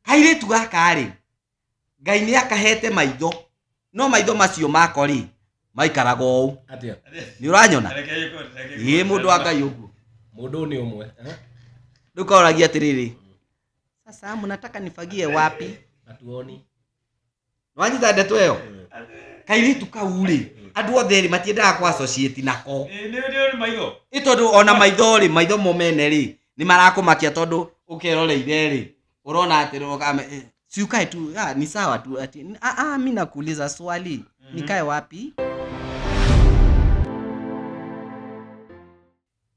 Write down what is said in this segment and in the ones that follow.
kairĩtu gaka rĩ ngai nĩ akahete maitho no maitho macio mako rĩ maikaraga ũũ Atia. nĩ ũranyona ĩ mũndũ wa ngai ũguo Mũndũ nĩ ũmwe. Eh? rĩu kaoragia atĩrĩrĩ sasa mnataka nifagie wapi Atuoni. nwanyita ndeto ĩyo kairĩtu kau rĩ andũ othe rĩ matiendaga kwa associate nako Ĩ, nĩ nĩ maitho ĩ tondũ ona maitho rĩ maitho mo mene rĩ nĩ marakũmakia tondũ ũkeroreire rĩ ũrona atĩ rũgame eh, si ukae tu ah, ni sawa tu ati ah, ah, mi nakuuliza swali nikae wapi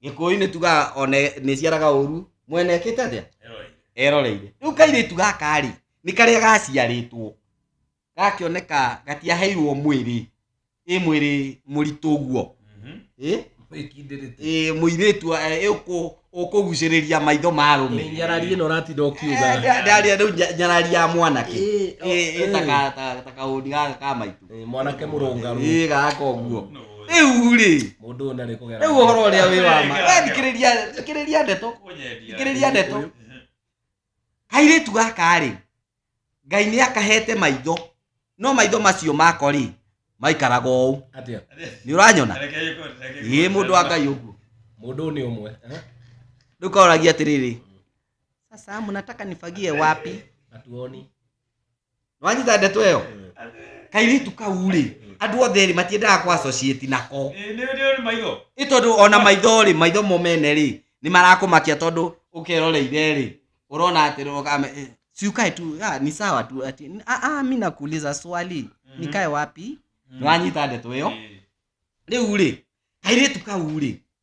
gĩkũyũ-inĩ tugaga one nĩ ciaraga ũru mwene ĩkĩte atĩa eroreire rĩu kairĩtu gaka rĩ nĩ karĩa gaciarĩtwo gakĩoneka gatiaheirwo mwĩrĩ ĩ mwĩrĩ mũritũ ũguo ĩ ĩ mũirĩtu ĩ ũkũ- ũkũgucĩrĩria maitho ma arũme nyarari ĩno ũratinda ũkiuga ndaria rĩu nya- nyarari ya mwanake Ĩ, ĩ, ĩ, ĩ. taka- taka- taka ũndi gaka ka maitũ Ĩ, mwanake mũrũngarũ ĩ gaka ũguo rĩu rĩ mũndũ ũyũ ndarĩ kũgera rĩu ũhoro ũrĩa wĩ wa ma we thikĩrĩria thikĩrĩria ndeto thikĩrĩria ndeto kairĩtu gaka rĩ ngai nĩ akahete maitho no maitho macio mako rĩ maikaraga ũũ atĩa nĩ ũranyona ĩ mũndũ wa ngai ũguo mũndũ ũyũ nĩ ũmwe eh? rĩu kaoragia atĩrĩrĩ sasa mnataka nifagie wapi hatuoni nwanyita ndeto ĩyo kairĩtu kau rĩ andũ othe rĩ matiendaga kwa associate nako Ĩ, nĩ nĩ maitho ĩ tondũ ona maitho rĩ maitho mo mene rĩ nĩ marakũmakia tondũ ũkeroreire rĩ ũrona atĩ rũgame eh, si ukae tu ah, ni sawa tu ati ah, ah, mi nakuuliza swali nikae wapi nĩwanyita ndeto ĩyo rĩu rĩ kairĩtu kau rĩ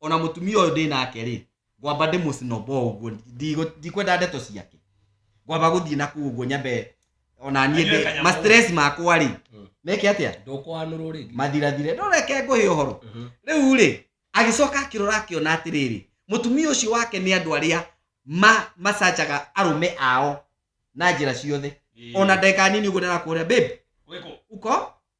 ona mutumia uyu ndi nake ri ngwamba ndi mucinobo uguo Ndigo- ndikwenda ndeto ciake ngwamba guthii na kuu uguo nyambe ona nie Anyue kanyamũ. ma stress makwa ri Mm. meke atia ndũkwanũrwo rĩngĩ mathirathire no reke ngũhe ũhoro Mhm. rĩu rĩ agĩcoka akĩrora akĩona atĩrĩrĩ mũtumia ũcio wake nĩ andũ arĩa ma macanjaga arũme ao na njĩra ciothe ona ndeka nini ũguo ndĩrakũrĩa babe Wĩkũ? uko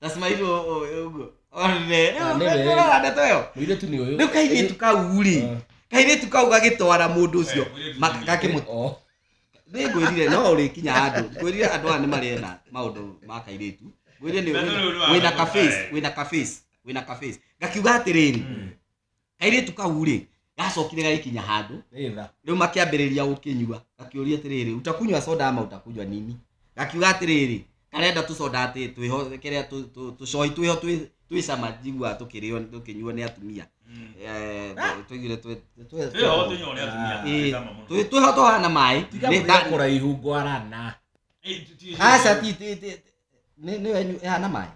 tasima icio ũguo Ah, nĩ we. ũrona ndeto ĩyo mũirĩtu nĩ ũyũ rĩu kairĩtu kau rĩ Ah. kairĩtu kau gagĩtwara mũndũ ũcio ma- gakĩmũ Oh. nĩ ngwĩrire no ũrĩkinya handũ ngwĩrire andũ aya nĩ marĩena maũndũ ma kairĩtu ngwĩrire nĩ Na nĩ ũyũ wĩna- wĩna wĩna kaface wĩna kaface wĩna kaface ngakiuga atĩrĩrĩ kairĩtu kau rĩ gacokire gagĩkinya handũ Rĩtha. rĩu makĩambĩrĩria gũkĩnyua gakĩũria atĩrĩrĩ utakunywa soda ama utakunywa nini gakiuga atĩrĩrĩ karenda tũcoda atĩ twĩho kĩrĩa tũ- tũ- tũcohi twĩho twĩ- twĩ cama njiguaga tũkĩrĩo tũkĩnyuo nĩ atumia Eh, tũ- tũigire twĩ- twĩ- Twĩho tũnyuo nĩ atumia. Ĩĩ, Cama mũno. twĩ- twĩho tũhana maĩ Tiga Nĩ- mũthia kũraihu ngwarana. Ĩĩ, ti- ti- Aca ti ti- ti- nĩ nĩ wenyu ĩhana maĩ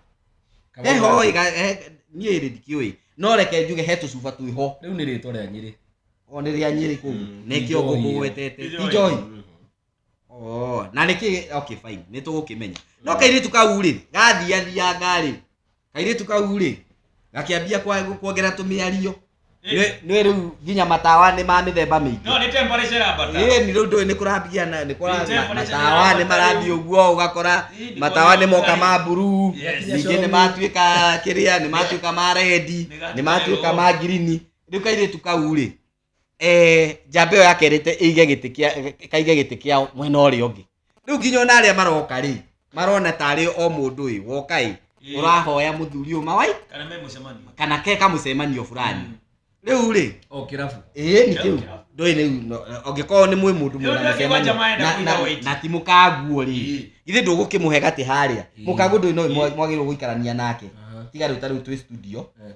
Kama heho ũgasi. ĩga- he- niĩ rĩ ndikiũĩ no reke njuge he tũcuba twĩho rĩu nĩ rĩtwa rĩa nyĩrĩ o nĩ rĩa nyĩrĩ kũu Mm, nĩkĩo njohi ĩyo. ngũkũgwetete ti njohi Oh, na nä kä okay fine nä tå gå kä menya no kairä tu kau rä gathiathianga rä kairĩtu kau rĩ gakĩambia kwa- kuongera tũmĩario Nĩ- nĩ rĩu nginya matawa nĩ ma mĩthemba mĩingĩ no nĩ temperature ĩrambata ĩĩ nĩ rĩu ndũĩ nĩ kũrambia na nĩ Nĩ kũra temperature matawa nĩ nĩ marathiĩ ĩrambata ũguo ũgakora Ĩĩ, nĩ matawa nĩ moka kũrambata. ma mburuu Yes. ningĩ nĩ matuĩka kĩrĩa nĩ matuĩka ma rendi Nĩ nĩ matuĩka ma ngirini rĩu kairĩtu kau rĩ eh, njamba ĩyo yake ĩrĩte ĩige gĩtĩ kĩa ĩkaige gĩtĩ kĩao mwena ũrĩa ũngĩ rĩu nginya ona arĩa maroka rĩ marona tarĩ o mũndũ ĩ woka ĩ Ĩĩ. ũrahoya mũthuri ũyũ mawai kana me mũcemanio kana ke kamũcemanio fulani Mm. rĩu rĩ o kĩrabu ĩĩ nĩ kĩu Kĩrabu. ndũĩ rĩu no- angĩkorwo nĩ mwĩ mũndũ Rĩu mwĩna nĩ mũcemanio, kwanja maenda na- kũiga na- wĩti. na ti mũkaguo rĩ Ĩĩ. githĩ ndũgũkĩmũhe gatĩ harĩa Ĩĩ. mũkaguo ndũĩ no Ĩĩ. mwagĩrĩirwo gũikarania nake Aha. tiga rĩu ta rĩu twĩ studio Eh.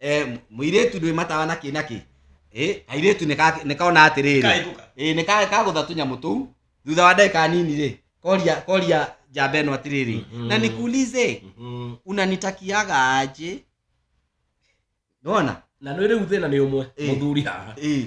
Eh, m- mũirĩtu ndwĩ matawa na kĩ na kĩ Eh, kairĩtu nĩka- nĩkona atĩrĩrĩ Kaigũka. Ĩĩ, nĩ ka- kagũtha tũnyamũ tũu thutha wa ndagĩka nini rĩ koria koria njamba ĩno atĩrĩrĩ Mhm. na nikuulize Mhm. unanitakiaga aje nona na nä rä u thä na nä å mwe Ĩĩ. må thuri haha Ĩĩ.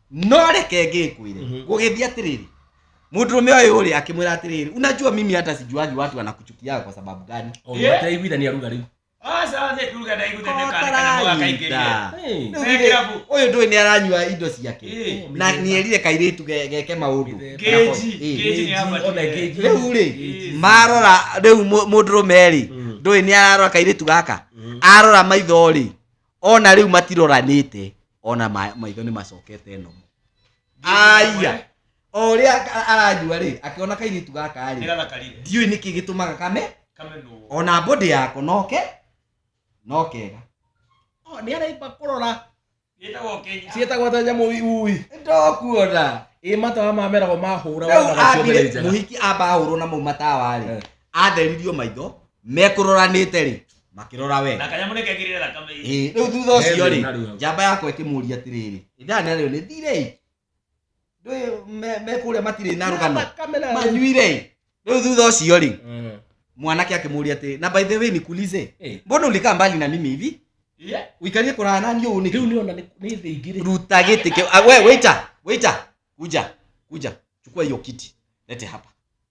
no reke ngĩkwĩre Mhm. gũgĩthiĩ atĩrĩrĩ mũndũrũme ũyũ ũrĩ akĩmwĩra atĩrĩrĩ unajua mimi hata sijuagi watu wanakuchukia kwa sababu gani ũgĩteiguitha nĩ aruga rĩu Aca thĩ kuruga na igũthe nĩ kana kana mũga kaingĩria. Hey. Rĩu githĩ- ũyũ ndũĩ nĩ aranyua indo ciake Ĩ. na nĩerire kairĩtu ge- geke maũndũ Ngeji, Ĩ. ngeji nĩ abatire. Ona ngeji. rĩu rĩ Ĩ. marora rĩu mũ- mũndũrũme rĩ Mm. ndũĩ nĩ ararora kairĩtu gaka Mm. arora maitho rĩ ona rĩu matiroranĩte ona ma- maitho nĩ macokete nomo aya o ũrĩa a- aranyua rĩ akĩona kairĩtu gaka rĩ nĩgathakarire ndiũĩ nĩkĩ gĩtũmaga kame kamenwo ona mbũndĩ yako noke nokega nĩ araimba kũrora gĩtagwo kenya ciĩtagwo ta nyamũ ui ndokuona ĩ matawa ma merago mahũra rĩu wonaga ciothe ambire nĩ njega mũhiki amba ahũrwo na mau matawa rĩ Eh. atheririo maitho mekũroranĩte rĩ makĩrora we na kanyamå nä kekirä re thakame Ĩĩ, rĩu thutha ũcio Hethĩ na rĩ rĩu. njamba yakwa ĩkĩmũria atĩrĩrĩ ndana rĩo nĩ thirei ndũĩ me- me kũrĩa matirĩ na rũgano Thakame na- manyuirei rĩu thutha ũcio rĩ Eh. mwanake akĩmũria atĩ na by the way nikulize Eh. mbona ulikaa mbali na mimi hivi uikarie kũraya nani ũũ nĩkĩ Rĩu nĩona nĩ- nĩ thĩ ingĩ rĩ. ruta gĩtĩ kĩu Ah, we waiter waiter kuja kuja chukua hiyo kiti lete hapa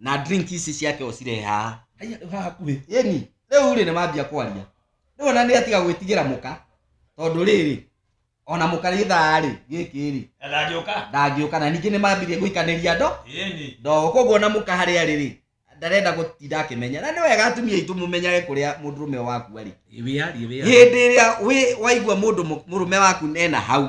na drink ici ciake ũcirehe haha Haiya, haha hakuhĩ yeni rĩu rĩ nĩ mambia kwaria rĩu ona nĩ atiga gwĩtigĩra mũka tondũ rĩrĩ ona mũka gĩthaa rĩ gĩkĩ rĩ ndangĩũka ndangĩũka na ningĩ nĩ mambirie gũikanĩria ndo ĩni ndo koguo ona mũka harĩa rĩ rĩ ndarenda gũtinda akĩmenya na nĩ wega atumia aitũ mũmenyage kũrĩa mũndũ rũme wakua rĩ wĩyarie wĩyarie hĩndĩ ĩrĩa wĩ- waigua mũndũ mũ- mũrũme waku ena hau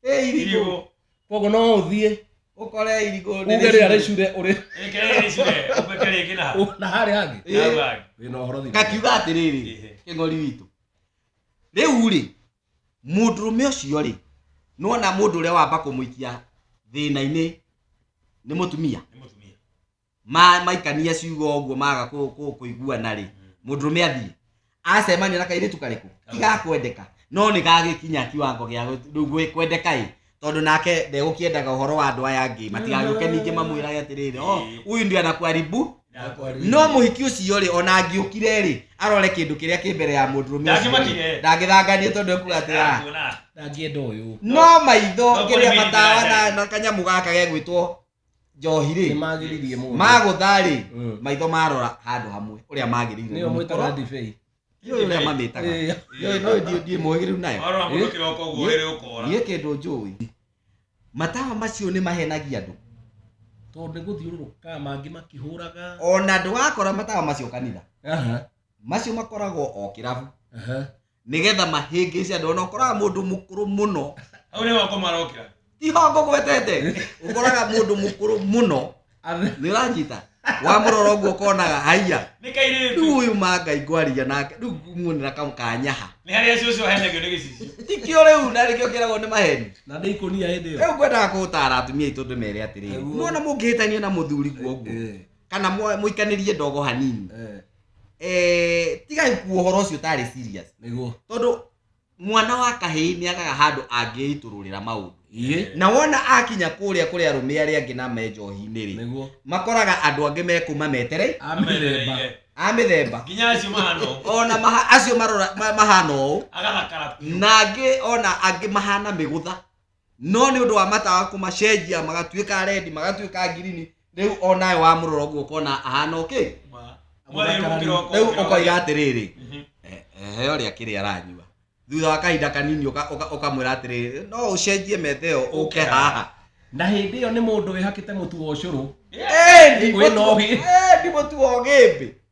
ĩ irigũ Irigũ. koguo no ũthiĩ ũkore irigũ nĩ uge rĩrĩa rĩcure ũrĩ Ĩkĩrĩcire, ũbeke rĩngĩ na hau. na harĩa hangĩ Ĩ. Na hau hangĩ. wĩ na ũhoro thikĩrĩria. ngakiuga atĩrĩrĩ Ĩhĩ. kĩng'ori witũ rĩu rĩ mũndũrũme ũcio rĩ nĩwona mũndũ ũrĩa wamba kũmũikia thĩna-inĩ nĩ mũtumia Nĩ mũtumia. ma maikania ciugo ũguo maga kũ- kũ- kũiguana rĩ mũndũrũme athiĩ acemania na kairĩtu karĩkũ igakwendeka no nĩ gagĩkinya kiwango gĩa gũ- rĩu gwĩ- kwendeka ĩ tondũ nake ndegũkĩendaga ũhoro wa andũ aya angĩ matigagĩũke ningĩ mamwĩrage atĩrĩrĩ "Oh, huyu ndio anakuharibu no mũhiki ũcio rĩ ona angĩũkire rĩ arore kĩndũ kĩrĩa kĩ mbere ya mũndũrũme Ndangĩmakire. ndangĩthanganie tondũ ekuga atĩ "Ah, ndangĩenda ũyũ no maitho No kĩrĩa kũrĩ matawa na, mĩthiranga. na kanyamũ gaka gegwĩtwo njohi rĩ nĩmagĩririe mũndũ magũtha rĩ Mm. maitho marora handũ hamwe ũrĩa magĩrĩire nĩyo mwĩtaga ndibei Ndiũĩ ũrĩa mamĩtaga Ĩĩ. Ndiũĩ, no ndiũ- ndiĩ mũhĩgĩrĩru nayo warora mũndũ Eh? kĩroko ũguo ĩrĩ ũkora niĩ kĩndũ njũĩ matawa macio nĩ mahenagia andũ tondũ nĩ gũthiũrũrũkaga mangĩ makĩhũraga ona ndũgakora matawa macio kanitha Aha, macio makoragwo o kĩrabu aha. nĩgetha mahĩngĩce andũ ona ũkoraga mũndũ mũkũrũ mũno hau nĩ wako marokĩra ihongo gwetete ũkoraga mũndũ mũkũrũ mũno nĩ ũranyita wamũrora ũguo ũkonaga haiya nĩ rĩu kairĩtu ũyũ ma ngai ngwarĩria nake rĩu nguonera kamũ kanyaha nĩ harĩa cũcũ ahenagio nĩ gĩcicio tikio rĩu na rĩkĩo kĩragwo nĩ maheni na ndĩ ikũnia hĩndĩ ĩyo rĩu ngwendaga kũũtara atumia aitũ ndĩmere atĩrĩrĩ Nĩguo. muona mũngĩhĩtania na mũthuri guo ũguo Eh, kana mwa- mũikanĩrie ndogo hanini eh. eh, tigai kuo horo ucio tari serious niguo tondu mwana wa kahii ni agaga handu angiitururira maundu iye na wona akinya kuria kuria rume aria angi na menjohi-ini ri niguo makoraga andu angi mekuma meterei amithemba a mithemba nginya acio mahana ũguo ona maha, acio marora ma- mahana ũũ agathakara biũ na angĩ ona angĩ mahana mĩgũtha no nĩ ũndũ wa matawa kũmacenjia magatuĩka rendi magatuĩka ngirini rĩu onawe wa mũrora ũguo ũkona ahana ũkĩ rĩu ũkoiga atĩrĩrĩ eh, ehe ũrĩa kĩrĩa aranyua thutha wa kahinda kanini ũka- ũka- ũkamwĩra atĩrĩrĩ no ũcenjie metha ĩyo ũke haha na hĩndĩ ĩyo nĩ mũndũ wĩhakĩte mũtu wa ũcũrũ Endi Wĩna mũtu- ũgĩ. endi mũtu wa ũgĩmbĩ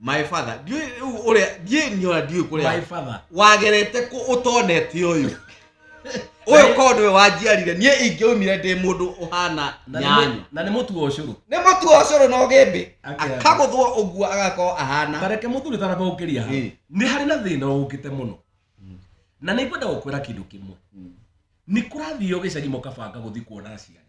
my father ndiũĩ rĩu ũrĩa ndiĩ nyora ndiũĩ my kũrĩa father wagerete kũ ũtonete ũyũ ũyũ korwo nĩwe wanjiarire niĩ ingĩaumire ndĩ mũndũ ũhana Na nĩ nyanya mũ- na nĩ mũtu wa ũcũrũ nĩ mũtu wa ũcũrũ na ũgĩmbĩ Akĩamba. akagũthwo ũguo agakorwo ahana tareke mũthuri taraba ũkĩria hau Ĩ. nĩ harĩ na thĩna ũkĩte mũno na nĩ ngwenda gũkwĩra kĩndũ kĩmwe nĩ kũrathiĩ ũgĩcagi mũkabanga gũthiĩ kuona aciari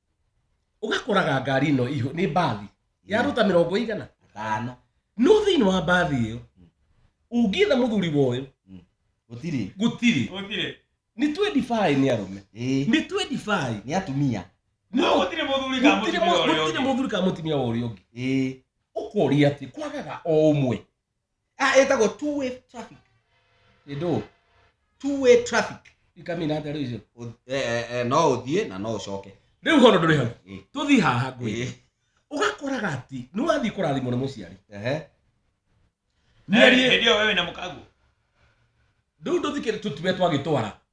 ũgakoraga ngari ĩno iho nĩ mbathi ya ruta mĩrongo igana Gatano. no thĩinĩ wa mbathi ĩyo ũngĩetha mũthuri woyo Gũtirĩ. gũtirĩ gutire nĩ 25 nĩ arũme Ĩĩ. nĩ 25 Nĩ atumia. no gutire muthuri ka gũtirĩ mutumia mu- ũrĩa gũtirĩ ũngĩ. mũthuri kana mũtumia wa ũrĩa ũngĩ Ĩĩ. ũkoria atĩ kwagaga o ũmwe ah ĩtagwo two way traffic ĩndũ two way traffic ikamina atĩa rĩu icio Ũ- eh, eh, eh, no ũthiĩ na no ũcoke rĩu hono ndũrĩ hau Ĩ, tũthiĩ haha ngũi ĩ, ũgakoraga atĩ nĩ wathiĩ kũrathimwo nĩ mũciari ehe. Mĩario- ndio wewe na mkago rĩu ndũthikĩrĩ tũtube twagĩtwara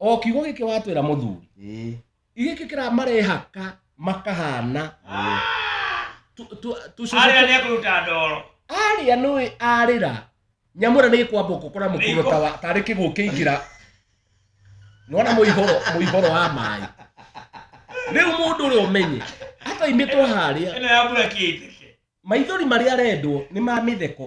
o kiugo gĩkĩ watwĩra mũthuri ĩĩ gĩkĩ kĩramarehaka makahana tu- tu- arĩa tũcũcũ nĩ kũruta ndoro arĩa nũĩ arĩra nyamũra nĩ kwamba ũkũkora mũkũro ta wa- tarĩ kĩguũ kĩingĩra nona mũihoro mũihoro wa maĩ rĩu mũndũ ũrĩa ũmenye ataimĩtwo harĩa ĩno ya mbura kĩitĩke maithori marĩa arendwo nĩ ma mĩtheko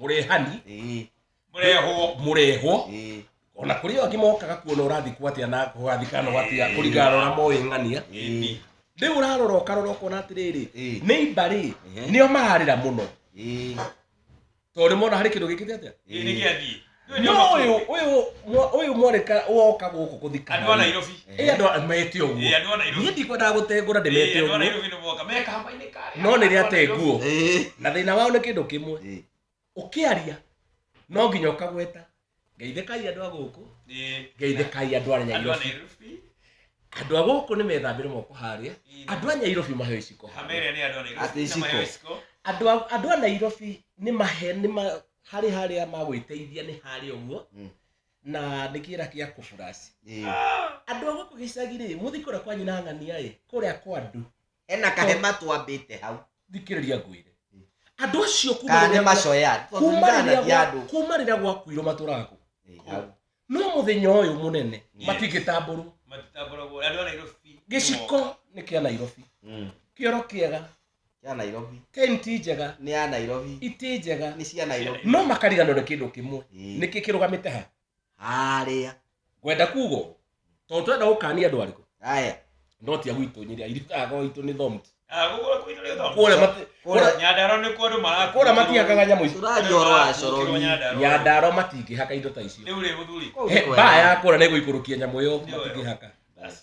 mũrehani ĩĩ mũrehwo mũrehwo ĩĩ ona kũrĩ o angĩ mokaga kuona ũrathikwo atĩa na ũgathikana ũgatia Ĩĩ. kũringana na ũrĩa moĩ ng'ania ĩĩ rĩu ũrarora ũkarora ũkona atĩrĩrĩ Ĩĩ. nĩ imbarĩ Ehe. nĩo mararĩra mũno ĩĩ tondũ mona harĩ kĩndũ gĩkĩte atĩa ĩĩ nĩ gĩathiĩ Nĩ no ũnyama ũyũ kũngĩ. ũyũ mwa- ũyũ mwareka woka gũkũ gũthikana Andũ a Nairobi. Eh, andũ a- mete ũguo Eh, andũ a Nairobi. niĩ ndikwendaga gũtengũra ndĩmete Eh, andũ a ũguo Nairobi nĩ moka. Me kambĩ-inĩ karĩa. no nĩ rĩa Andũ a Nairobi. tenguo Eh, na thĩna wao nĩ kĩndũ kĩmwe eh. ũkĩaria no nginya ũkagweta ngeithĩkai andũ a gũkũ Eh, ngeithĩkai andũ a andũ a nyairobi Nairobi. andũ a gũkũ nĩ methambĩre moko harĩa Eh, andũ a nyairobi maheo iciko Kamere nĩ andũ a Nairobi. Ati Na iciko. mayo iciko. andũ a- andũ a nairobi nĩ mahe nĩ ma- harĩ harĩa magwĩteithia nĩ harĩ ũguo Mm. na nĩ kĩra kĩa kũburaci Ĩĩ. andũ a gũkũ gĩcagi rĩ mũthi kũrĩa kwa nyina ng'ania ĩ kũrĩa kwa andũ hena kahema twambĩte hau thikĩrĩria ngwĩre Mm. andũ acio kuma kana nĩ rĩrĩa gwa- macoya kuma tũthuuranagia rĩrĩa gwa- andũ kuma rĩrĩa gwakuirwo matũraga kũ Ĩĩ, hau. no mũthenya ũyũ mũnene Yes. matingĩtambũrwo matitambũragwo andũ a nairobi gĩciko nĩ kĩa nairobi Mm. kĩoro kĩega ya nairobi Kain ti njega nĩ ya nairobi iti njega nĩ cia nairobi no makariganwo nä kä ndå kä mwe Ĩĩ. nä kä kä rå gamä te ha harĩa ngwenda kugo tondå tårenda gå kania andå arä kå haya no tia gwitå nyä ria irikago itå nä thomti Ah, gũkũ gwitũ nĩ thombo. kårä Kũrĩa- Nyandarua nĩ kuo andũ marakuĩrwo. matihakaga nyamå icio tũraria ũhoro wa Gũkĩrwo coroni Nyandarua. nyandaro matingä haka indo ta icio rĩu rĩ mũthuri Kũu He, nĩ kwega. mbaa ya kåra nä gå ikå rå kia nyamå ä yo Nĩ wega. matingä haka Basi.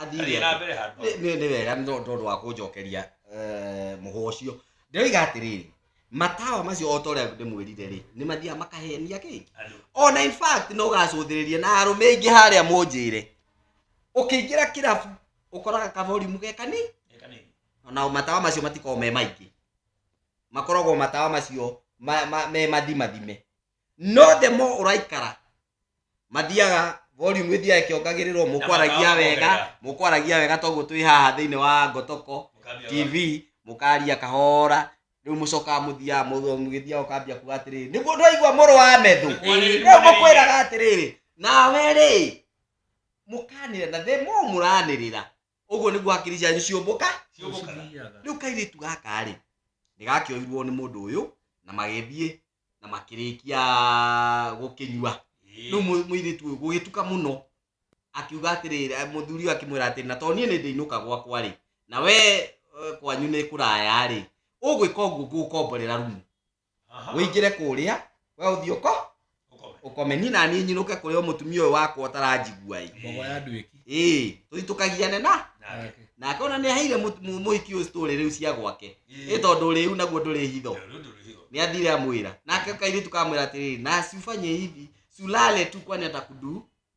athiĩ Thiĩ na atĩa? mbere handũ. Nĩ- nĩ nĩ wega nĩ tondũ tondũ wa kũnjokeria eh, mũhwa ũcio ndoiga atĩrĩrĩ matawa macio o ta ũrĩa ndĩmwĩrire rĩ nĩ mathiaga makahenia kĩngĩ Andũ. ona in fact no ũgacũthĩrĩrie na arũme aingĩ harĩa mũnjĩre ũkĩingĩra kĩrabu ũkoraga kaborimu ge kanini Eka nini. na matawa macio matikoragwo me maingĩ makoragwo matawa macio ma- ma- me mathimathime no the more ũraikara mathiaga volume ĩthiaga ĩkĩongagĩrĩrwo mũkwaragia wega mũkwaragia wega toguo twĩ haha thĩinĩ wa ngotoko tv mũkaria kahora rĩu mũcokaga mũthiaga mũthiaga mũgĩthiaga ũkambia kuga atĩrĩrĩ nĩguo ndwaigua mũrũ wa methũ rĩu mũkwĩraga atĩrĩrĩ nawe rĩ mũkanĩrĩra na the more mũranĩrĩra ũguo nĩguo hakiri cianyu ciũmbũka Ciũmbũkaga. Cithiaga. rĩu kairĩtu gaka rĩ nĩ gakĩoirwo nĩ mũndũ ũyũ na magĩthiĩ na makĩrĩkia gũkĩnyua Ĩĩ. rĩu mũ- mũirĩtu ũyũ gũgĩtuka mũno akiuga atĩrĩrĩ eh, mũthuri ũyũ akĩmwĩra atĩrĩ na to niĩ nĩ ndĩinũka gwakwa rĩ na we eh, kwanyu nĩ kũraya rĩ ũgwĩka ũguo ngũgũkomborera rumu wĩingĩre kũrĩa we ũthiĩ ũko Ũkome. ũkome niĩ naniĩ nyinũke kũrĩa mũtumia ũyũ wakwa ũtaranjigua ĩ mbogo ya andũ ĩki ĩĩ tũitũkagiane na Nake. nake ona nĩ aheire mũ- mũ- mũhiki ũyũ story rĩu cia gwake ĩ tondũ rĩu naguo ndũrĩ hitho Rĩu ndũrĩ hitho. nĩ athire amwĩra nake kairĩtu kamwĩra atĩrĩrĩ na cuba nyĩhithi sulale tu kwani atakudu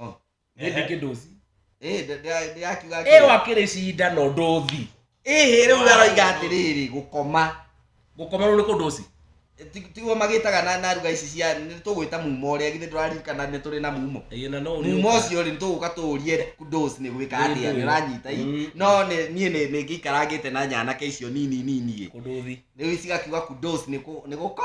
Oh. Nĩ Ehe. ndĩkĩ ndũthi. Eh, nda- nda- ndĩrakiuga Ĩ atĩrĩ. wakĩrĩ cinda no ndũthi. Ĩhĩ, rĩu aroiga atĩrĩrĩ gũkoma Gũkoma rĩu nĩ kũ ndũthi. Ti- tiguo magĩtaga na na ruga ici cia nĩ tũgwĩta mumo ũrĩa githĩ ndũraririkana nĩ tũrĩ na mumo Ĩĩ na no ũrĩũka. mumo ũcio rĩ nĩtũgũka tũũrie dos nĩ gwĩka Nĩ atĩa ndũĩ. nĩ ũranyita i Mm. no nĩ- niĩ nĩ- nĩ ngĩikarangĩte na nyanake icio nini nini ĩ Kũ ndũthi. rĩu cigakiuga kudos nĩ kũ- nĩ gũko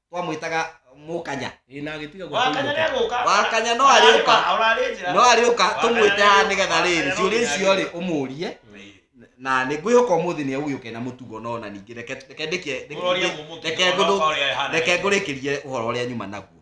twamwĩtaga mũkanya Ĩ, na agĩtiga wakanya gũkũinũka. negũka wakanya no arĩũka ararĩ njĩra no arĩũka Wakanya tũmwĩte haha nĩ getha rĩrĩ nĩarĩũka. ciũria icio rĩ ũmũrie na nĩ ngwĩhoka ũmũthĩ nĩ agũgĩũka na mũtugo no na ningĩ reke reke ndĩkie- Ũroria reke- mũmũtugo, reke ngũthũ- ũroka ũrĩa ehana. reke ngũrĩkĩrie ũhoro ũrĩa nyuma naguo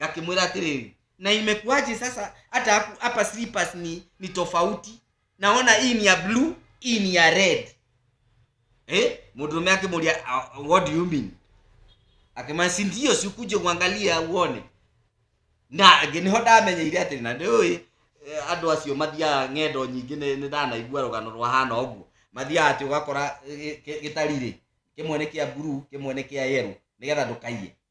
ngakĩmwĩra atĩrĩrĩ na imekuaje sasa hata haku- hapa slippers ni, ni tofauti naona hii ni ya blue hii ni ya red eh? mũndũrũme akĩmũria "Ah, what do you mean akĩmwambia si ndio sikuje kuangalia uone na angĩ nĩho ndamenyeire atĩ na ndĩũĩ eh, andũ acio mathiaga ng'endo nyingĩ nĩ nĩ ndanaigua rũgano rwahana ũguo mathiaga atĩ ũgakora eh, gĩ- gĩtarĩ-rĩ kĩmwe nĩ kĩa buru kĩmwe nĩ kĩa yero nĩgetha ndũkaiye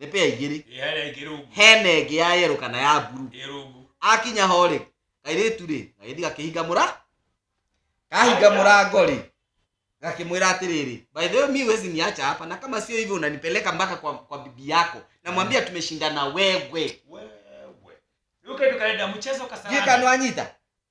nĩ pea igĩrĩ ĩ harĩa ingĩ rungu hena ĩngĩ ya yerũ kana ya mburu ĩ rungu akinya ho rĩ kairĩtu rĩ gagĩthi gakĩhinga mũra kahinga mũrango rĩ gakĩmwĩra atĩrĩrĩ by the way mi wezi niacha hapa na kama sio hivyo unanipeleka mpaka kwa, kwa bibi yako namwambia tumeshindana wewe wewe rĩu kĩndũ karenda mchezo kasarani gĩkanwanyita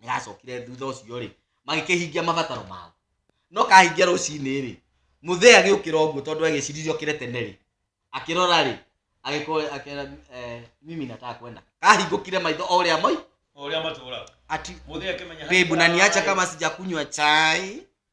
nĩgacokire thutha ũcio rĩ magĩkĩhingia mabataro mao no kahingia rũcinĩ rĩ mũthee agĩũkĩra ũguo tondũ agĩciririe okĩre tene rĩ akĩrora rĩ agĩkora akĩra eh, mimi nataka kwenda kahingũkire maitho o ũrĩa moi o ũrĩa matũũraga ati mũthee akĩmenya bebu na niacha kama sijakunywa chai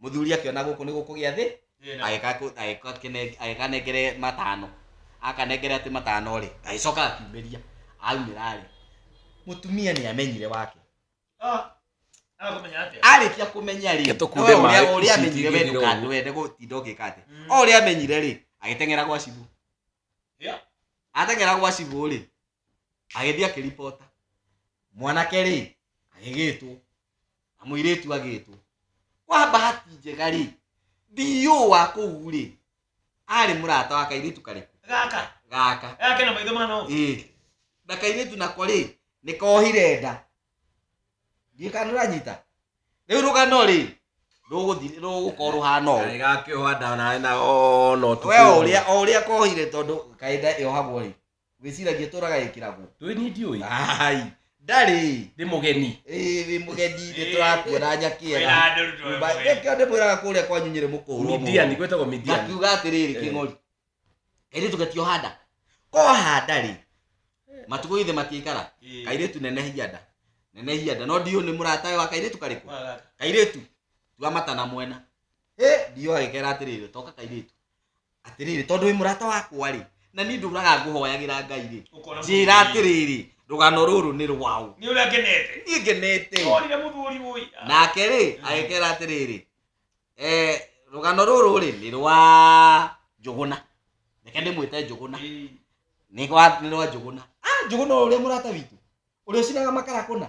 mũthuri akĩona gũkũ nĩ gũkũgĩa thĩ agĩkanengere matano akanengere atĩ matano rĩ agĩcoka akiumĩria aumĩra rĩ mũtumia nĩ amenyire wake arĩkia kũmenya rĩ ũrĩa amenyire we ndũkandwende gũtinda ũgĩka atĩ o ũrĩa amenyire rĩ agĩteng'era gwa cibũ ateng'era gwa cibũ rĩ agĩthiĩ akĩribota mwanake rĩ agĩgĩtwo na mũirĩtu agĩtwo kwa bahati njega rĩ ndiũ wa kũu rĩ arĩ mũrata wa kairĩtu karĩkũ gaka gaka gake na maitho mano ĩ na kairĩtu nako rĩ nĩ kohire nda ndiĩ kana ũranyita rĩu rũgano rĩ rũgũthi- rũgũkorwo rũhana ũũ Kaĩ gakĩoha ndawa nawe na ona ũtukũ we ũmwe. ũrĩa o ũrĩa kohire tondũ kainda yohagwo rĩ wĩciragia tũraga ĩkĩragwo ndũĩ niĩ ndiũĩ ai ndarĩ ndĩ mũgeni Ĩĩ, wĩ mũgeni nĩ tũrakuona nyakĩera Nyũmba- nĩkĩo ndĩmwĩraga kũrĩa kwanyu nyĩrĩ mũkũhũrwo midiani gwĩtagwo midiani ngakiuga atĩrĩrĩ Eh. kĩng'ori kairĩtu gatioha nda koha nda rĩ matukũ ithe matiikara kairĩtu nenehia nda nenehia nda no ndiũ nĩ mũratawe wa kairĩtu karĩkũ kairĩtu tua matana mwena ĩ ndiũ agĩkera atĩrĩrĩ toka kairĩtu atĩrĩrĩ tondũ wĩ mũrata wakwa rĩ na niĩ ndũraga ngũhoyagĩra ngai rĩ Ũkona njĩra mũthuri. atĩrĩrĩ rũgano rũrũ nĩ rwaũ nĩ ũrĩa ngenete niĩ ngenete onire mũthuri mũi nake rĩ agĩkera atĩrĩrĩ eh, rũgano rũrũ rĩ nĩ rwa njũgũna reke ndĩmwĩte njũgũna nĩ rwa nĩ rwa njũgũna Ah, njũgũna ũrĩa mũrata witũ ũrĩa ũcinaga makara kũna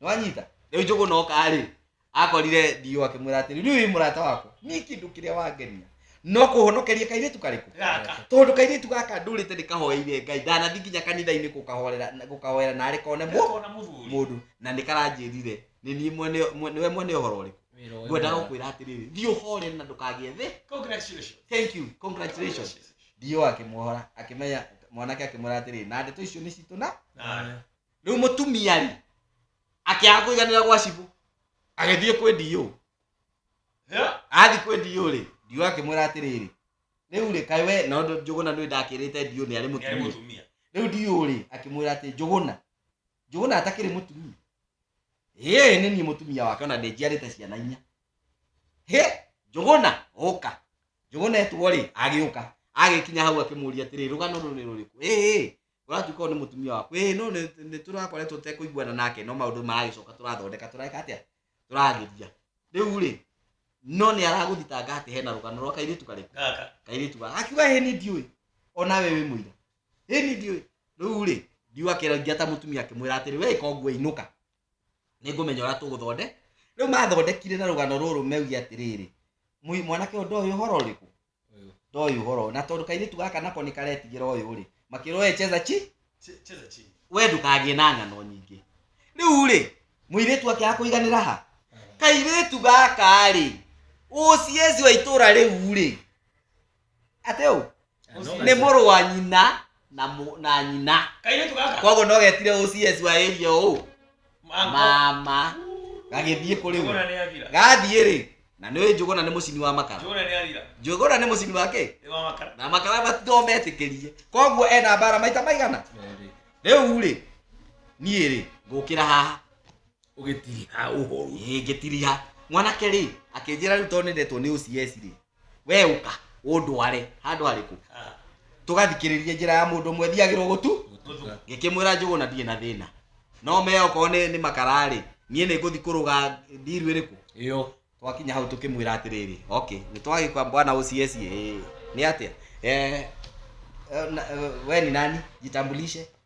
nĩwanyita rĩu njũgũ noka rĩ akorire ndio akĩmwĩra atĩrĩ rĩu wĩ mũrata wako nĩ kĩndũ kĩrĩa wangenia no kũhonokeria kairĩtu karĩkũ Gaka. tondũ kairĩtu gaka ndũrĩte ndĩkahoeire ngai ndanathi nginya kanitha-inĩ gũkahorera gũkahoera narĩ kone mũ Gakona mũthuri. mũndũ na nĩ karanjĩrire nĩ niĩ mwene mwe- nĩwe mwene ũhoro ũrĩkũ Wĩra ũyũ ngwenda mwega. gũkwĩra atĩrĩrĩ thiĩ ũhore na ndũkagĩe thĩ Congratulations. thank you congratulations ndio akĩmuohora akĩmenya mwanake akĩmwĩra atĩrĩ na ndeto icio nĩ citũ na Na- rĩu mũtumia rĩ akĩaga kũiganĩra gwa cibũ agĩthiĩ kwĩ ndiyũ athi kwĩ ndiyũ rĩ ndiyũ akĩmwĩra atĩrĩrĩ rĩu rĩ kaĩ we na ũndũ njũgũna nĩ ndakĩrĩte ndiyũ nĩ arĩ mũtumia rĩu ndiyũ rĩ akĩmwĩra atĩ njũgũna njũgũna atakĩrĩ mũtumia ĩĩ nĩ niĩ mũtumia wake ona ndĩnjiarĩte ciana inya hĩ njũgũna ũka njũgũna etwo rĩ agĩũka agĩkinya hau akĩmũria atĩrĩ rũgano rũrĩ rũrĩkũ ĩĩ ũratuĩka ũyũ nĩ mũtumia waku ĩĩ no nĩ- nĩ tũrakoretwo tekũiguana nake no maũndũ maragĩcoka tũrathondeka tũreka atĩa tũrageria rĩu rĩ no nĩ aragũthitanga atĩ hena rũgano rwa kairĩtu karĩkũ gaka kairĩtu gaka akiuga ĩ nĩ ndiũĩ ona we wĩ mũira ĩ nĩ ndiũĩ rĩu rĩ ndiũ akĩrangia ta mũtumia akĩmwĩra atĩrĩ we ĩka ũguo inũka nĩ ngũmenya ũrĩa tũgũthonde rĩu mathondekire na rũgano rũrũ meuge atĩrĩrĩ "Mũi- mwanake ũndũ ũyũ ũhoro ũrĩkũ ndoĩ ũhoro na tondũ kairĩtu gaka nako nĩ karetigĩra ũyũ rĩ makĩrwo we cheza chi Che- cheza chini we ndũkagĩe na ng'ano nyingĩ rĩu rĩ mũirĩtu akĩaga kũiganĩra ha kairĩtu gaka rĩ ũciezi wa itũra rĩu rĩ atĩ ũ nĩ mũrũ wa nyina na mũ- na nyina kairĩtu gaka koguo no getire ũcs wa area ũũ mama gagĩthiĩ kũrĩ we njũgũna nĩ athira gathiĩ rĩ na nĩ njũgũna nĩ mũcini wa makara njũgũna nĩ athira njũgũna nĩ mũcini wa kĩ nĩ wa makara na makara matito metĩkĩrie koguo ena mbara maita maigana rĩu rĩ niĩ rĩ ngũkĩra haha ũgĩtiriha ũhoru Ĩ, ngĩtiriha mwanake rĩ akĩnjĩra rĩu tondũ nĩndetwo nĩ ũcs rĩ we uka undware handu hariku tugathikiririe njira ya mundu mwe thiagirwo gutu ngikimwira njugu na ndie na thina no me okorwo ni ni makarari nie ni nguthi kuruga ndiru iriku iyo twakinya hau tukimwira atiriri okay ni twagikwa bwana OCS eh ni atia eh eh, na- eh, we ni nani jitambulishe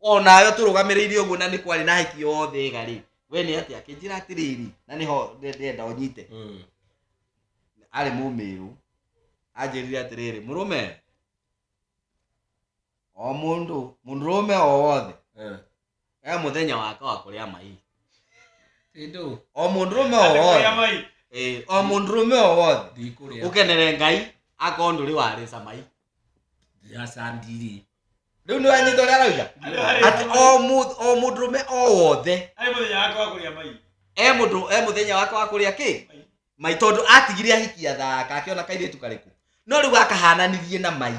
o nayo tũrũgamĩrĩire ũguo na nĩ kwarĩ na hiki yothe ega rĩ we nĩ atĩ akĩnjĩra atĩrĩrĩ na nĩho ndĩ- ndĩrenda ũnyite Mm. arĩ mũmĩrũ anjĩrire atĩrĩrĩ mũrũme o mũndũ mũndũrũme o wothe Eh. e mũthenya wake wa kũrĩa mai Tindũ, o mũndũrũme o Andĩkũrĩa wothe mai. Ĩĩ, o mũndũrũme o wothe ndikũrĩa. ũkenere ngai akorwo ndũrĩ warĩca mai ndĩracandiri rĩu nĩ wanyita ũrĩa arauga atĩ o mũ- o mũndũrũme o wothe Ai mũthenya wakwa wa kũrĩa mai. e mũndũ e mũthenya wake wa kũrĩa kĩ mai tondũ atigire ahikia thaka akĩona kairĩtu karĩkũ no rĩu akahananirie na mai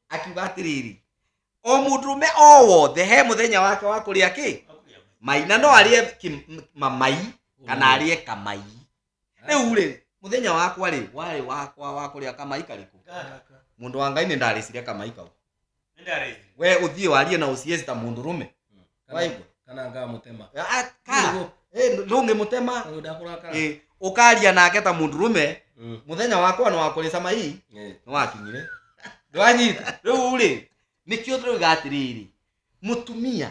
akiuga atĩrĩrĩ o mũndũrũme o wothe he mũthenya wake wa kũrĩa kĩ Wa kũrĩa mai. mai na no arĩe kĩ- m- mamai kana arĩe kamai rĩu rĩ mũthenya wakwa rĩ warĩ wakwa wa kũrĩa kamai karĩkũ mũndũ wa ngai nĩ ndarĩcire kamai kau we ũthiĩ warie na ũcieci ta mũndũ rũme waigua kana ngamũtema Ah, ka Eh, ndũngĩ mũtema tondũ ndakũrakara Eh, ũkaria nake ta mũndũ rũme Mm. mũthenya wakwa nĩ wakũrĩ samai Eh. nĩ wakinyire ndwanyita rĩu rĩ nĩkĩo tũrauga atĩrĩrĩ mũtumia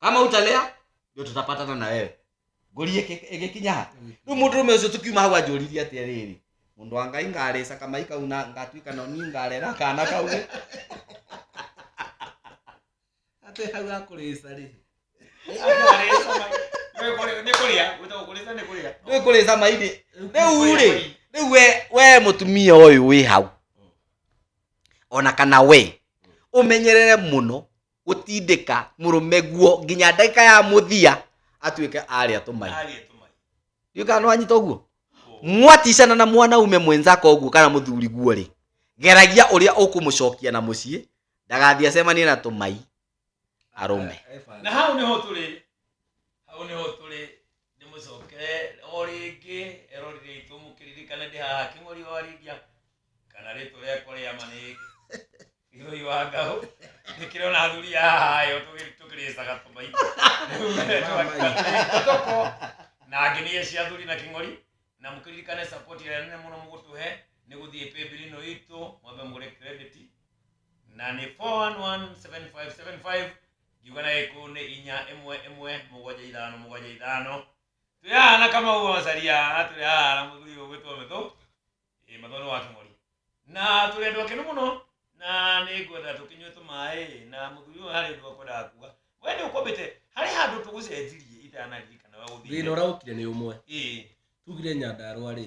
kama utalea ndio tutapatana na wewe ngũri ĩgĩ- ĩgĩkinya ha rĩu mũndũ rũme ũcio tũkiuma hau anjũririe atĩ rĩrĩ mũndũ wa ngai ngarĩca kamai kau na ngatuĩka no niĩ ngarera kana kau rĩ atĩ hau akũrĩca rĩ nĩ kũrĩa gwĩtagwo kũrĩca nĩ kũrĩa nĩ kũrĩca mairĩ rĩu rĩ rĩu we we mũtumia ũyũ wĩ hau ona kana we ũmenyerere mũno gũtindĩka mũrũme guo nginya ndagĩka ya mũthia atuĩke arĩa tũmai Arĩa tũmai. ndiũ kana nĩ wanyita ũguo mwaticana na mwanaume mwenzako ũguo kana mũthuri guo rĩ geragia ũrĩa ũkũmũcokia na mũciĩ ndagathiĩ acemanie na tũmai arũme Na hau nĩho tũrĩ. Hau nĩho tũrĩ. ndĩmũcokere o rĩngĩ erorire itũ mũkĩririkane ndĩ haha kĩng'ori wa rĩngia kana rĩtũ rĩakwa rĩa ma nĩ gĩthũi wa ngaũ nĩkĩrĩ ona athuri a haha yo tũkĩrĩcaga tũmai tũko na angĩ nĩ cia athuri na kĩng'ori na mũkĩririkane support ĩrĩa nene mũno mũgũtũhe nĩ gũthiĩ paybill ĩno itũ mwambe mũgũre credit na nĩ 4117575 ngiuga na gĩkũyũ nĩ inya ĩmwe ĩmwe mũgwanja ithano mũgwanja ithano twĩ haha na kamau wa macaria na twĩ haha na mũthuri ũyũ gwĩtwo mĩthũ ĩ mathũ nĩ wa kĩng'ori na tũrĩ andũ akenu mũno na nĩ ngwenda tũkĩnyue tũmaĩ na mũthuri ũyũ harĩ ũndũ akwendaga kuga we nĩ ũkũmbĩte harĩ handũ tũgũcenjirie itanaririkana we thĩna ũthiire ũraũkire nĩ ũmwe ĩ tugire nyandarũa rĩ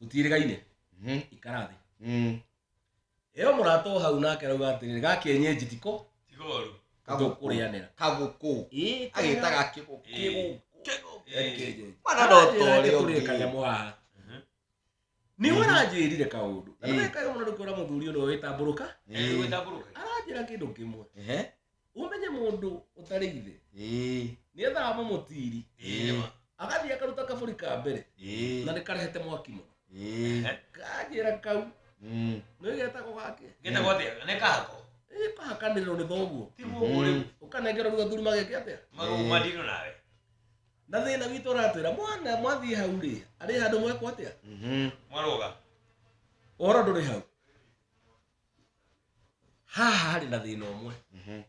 tũtiĩrĩgaine Mhm. ikara thĩ Mm. ĩyo mũrata o hau nake rauga atĩrĩrĩ gakienyenji tiko tigoru tũkũrĩanĩra kagũkũ Ĩĩ, agĩtaga kĩgũkũ Ĩĩ. kĩgũkũ Kĩenyenji. mwana no Anjĩra tore ake tũrĩ ũngĩ kanyamũ haha Mhm. nĩ we aranjĩrire kaũndũ na Ĩĩ. nĩwekaga mũno nĩkuona mũthuri ũno wĩtambũrũka Eh, gwĩtambũrũka. aranjĩra kĩndũ kĩmwe Ehe. umenye mundu utari ithe ĩĩ ni ethaga mamutiri ĩĩ agathii akaruta kaburi ka mbere na ĩĩ ni karehete mwaki muno ĩĩ kanjira kau Mm. no igetagwo gake Ngenda gwa thĩa, nĩ kahako. ĩ kahakanirwo ni thoguo Tiguo ũguo rĩu. ukanengerwo ruga thuri mageke atia Magũrũ Eh. matirũ nawe. na thina witå ratwä mwana mwathiä hau rä arä handå mwekwo atä a Mhm. Mwaroga. å horo ndå rä hau haha harĩ na thĩna ũmwe mhm.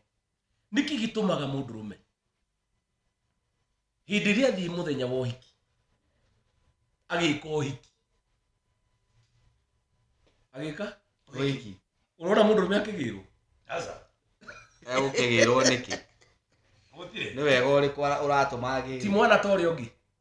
nĩkĩ gĩtũmaga mũndũ rũme hĩndĩ ĩrĩa athiĩ mũthenya wa ũhiki agĩka ũhiki agĩka ũhiki ũrona mũndũ rũme akĩgĩrwo egũkĩgĩrwo nĩkĩ nĩ wega ũrĩkũ ũratũma agĩrwo ti mwana ta ũrĩa ũngĩ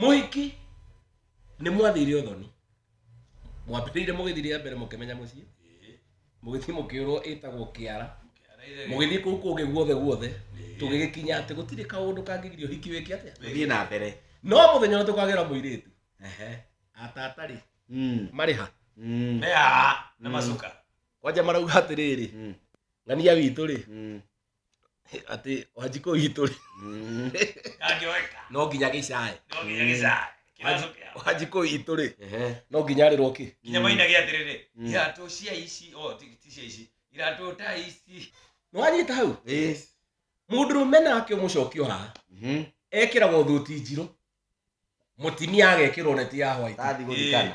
mũhiki nĩ mwathire ũthoni mwambĩrĩire mũgĩthiĩ rĩa mbere mũkĩmenya mũciĩ mũgĩthiĩ mũkĩũrwo ĩtagwo kĩara mũgĩthiĩ kũu kũngĩ guothe guothe tũgĩgĩkinya atĩ gũtirĩ kaũndũ kangĩgiria ũhiki wĩke atĩa Gũthiĩ na mbere. no mũthenya ũrĩa tũkagĩra mũirĩtu Ehe. atatarĩ Mm. marĩ ha Mm. Mea na macuka. kwanja marauga atĩrĩrĩ Mm. ng'ania witũ rĩ Mm. atĩ wanjikũ itũ rĩ Ndangĩoeka. no nginya gĩcaĩ No nginya gĩcaya. Kĩrathũ kĩao. wanjikũ itũ rĩ Ehe. no nginya arĩrwo kĩ Nginya mainage atĩrĩrĩ, Mm. iratũ cia ici, o, ti- ti cia ici, iratũ ta ici. nĩ wanyita hau Ĩĩ. mũndũ rũme nake mũcokio haha Mhm. ekĩragwo thuti njirũ mũtimia agekĩrwo neti ya hwaiti Tathi gũthikana.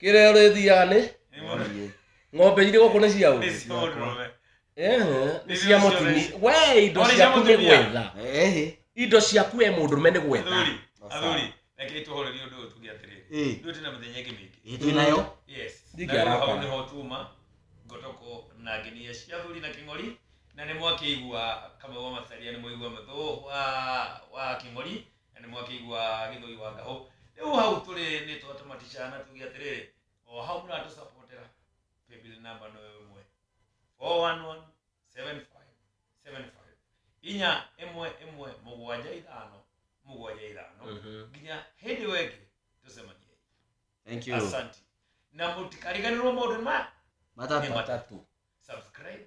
kä rä a å rä thiaga nä ng'ombe irä gå kå nä ciaå Nĩ cia ũndũrũme. nä cia må tini we indo Ona cia ciaku nä mũtumia. gwetha Ehe. indo ciaku we må ndå me nä gwetha Athuri, athuri, rekei tũhorerie ũndũ ũyũ tuge atĩrĩrĩ. Eh. Ithuĩ twĩna mĩthenya ĩngĩ mĩingĩ. Eh, twĩ nayo Yes. Ndingĩ Na rĩu hau arakara. nĩho tuma ngotoko na nginia cia athuri na kĩng'ori na nĩ mwakĩigua kamwe wa macaria nĩ mũigua mũthũ wa wa kĩng'ori Na nĩ mwakĩigua gĩthũi wa ngahũ. Rĩu hau tũrĩ nĩ twatũmatica na tuge atĩrĩrĩ, o hau mũratũsapotera, paybill number no ĩyo ĩmwe 4117575 inya ĩmwe ĩmwe mũgwanja ithano mũgwanja ithano nginya hĩndĩ ĩyo ĩngĩ tũcemaniei Thank you. asanti na mũtikariganĩrwo maũndũ maya Matata. Matatu. subscribe